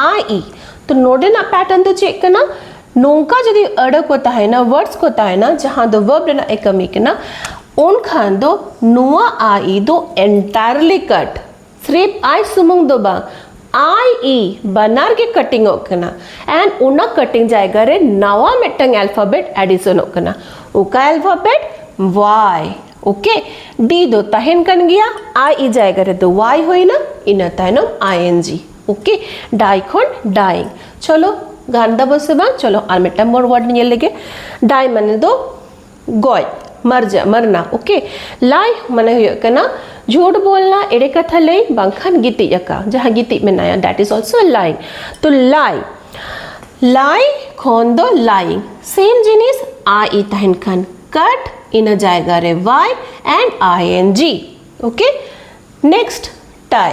ᱟᱭ ᱤ ᱛᱚ ᱱᱚᱰᱮᱱᱟᱜ ᱯᱮᱴᱟᱨᱱ ᱫᱚ ᱪᱮᱫ ᱠᱟᱱᱟ ᱱᱚᱝᱠᱟ ᱡᱩᱫᱤ ᱟᱹᱲᱟᱹ ᱠᱚ ᱛᱟᱦᱮᱱᱟ ᱣᱟᱨᱰᱥ ᱠᱚ ᱛᱟᱦᱮᱱᱟ ᱡᱟᱦᱟᱸ ᱫᱚ ᱣᱟᱨᱵ ᱨᱮᱱᱟᱜ ᱮ ᱠᱟᱹᱢᱤ ᱠᱟᱱᱟ ᱩᱱᱠᱷᱟᱱ ᱫᱚ ᱱᱚᱣᱟ ᱟᱭ ᱤ ᱫᱚ ᱮᱱᱴᱟᱭᱟᱨᱞᱤ ᱠᱟᱴ ᱥᱨᱤᱯ ᱟᱭ ᱥᱩᱢᱩᱝ ᱫᱚ ᱵᱟᱝ ᱟᱭ ᱤ ᱵᱟᱱᱟᱨ ᱜᱮ ᱠᱟᱴᱤᱝ ᱚᱜ ᱠᱟᱱᱟ ᱮᱱᱰ ᱚᱱᱟ ᱠᱟᱴᱤᱝ ᱡᱟᱭᱜᱟ ᱨᱮ ᱱᱟᱣᱟ ᱢᱤᱫᱴᱟᱝ ᱟᱞᱯᱷᱟᱵᱮᱴ ᱮᱰᱤᱥᱚᱱᱚᱜ ᱠᱟᱱᱟ ᱚᱠᱟ ᱟᱞᱯᱷᱟᱵᱮᱴ ᱣᱟᱭ ᱳᱠᱮ ᱰᱤ ᱫᱚ ᱛᱟᱦᱮᱱ ᱠᱟᱱ ᱜᱮᱭᱟ ᱟᱭ ᱤ ᱡᱟᱭᱜᱟ ᱨᱮᱫᱚ ᱣᱟᱭ ᱦᱩᱭᱱᱟ ᱤᱱᱟᱹ ᱛᱟᱭᱱᱚᱢ ᱟᱭ ᱮᱱ ᱡᱤ ᱳᱠᱮ ᱰᱟᱭ ᱠᱷᱚᱱ ᱰᱟᱭᱤᱝ ᱪᱚᱞᱚ ᱜᱟᱱ ᱫᱟᱵᱚ ᱥᱮ ᱵᱟᱝ ᱪᱚᱞᱚ ᱟᱨ ᱢᱤᱫᱴᱟᱝ ᱢᱚᱨ ᱣᱟᱨᱰ ᱧᱮᱞ ᱞᱮᱜᱮ ᱰᱟᱭ ᱢᱟᱱᱮ ᱫᱚ ᱜᱚᱡ ᱢᱟᱨᱡᱟ ᱢᱟᱨᱱᱟ ᱳᱠᱮ ᱞᱟᱭ ᱢᱟᱱᱮ ᱦᱩᱭᱩᱜ ᱠᱟᱱᱟ ᱡᱷᱩᱴ ᱵᱚᱞᱱᱟ ᱮᱲᱮ ᱠᱟᱛᱷᱟ ᱞᱟᱹᱭ ᱵᱟᱝᱠᱷᱟᱱ ᱜᱤᱛᱤᱡ ᱟᱠᱟ ᱡᱟᱦᱟᱸ ᱜᱤᱛᱤᱡ ᱢᱮᱱᱟᱭᱟ ᱫᱮᱴ ᱤᱡ ᱚᱞᱥᱳ ᱞᱟᱭ ᱛᱚ ᱞᱟᱭ ᱞᱟᱭ ᱠᱷᱚᱱ ᱫᱚ ᱞᱟᱭᱤᱝ ᱥᱮᱢ ᱡᱤᱱᱤᱥ ᱟᱭ ᱤ ᱛᱟᱦᱮᱱ ᱠᱷᱟᱱ ᱠᱟᱴ ᱤᱱᱟᱹ ᱡᱟᱭᱜᱟ ᱨᱮ Y and I N G okay next tie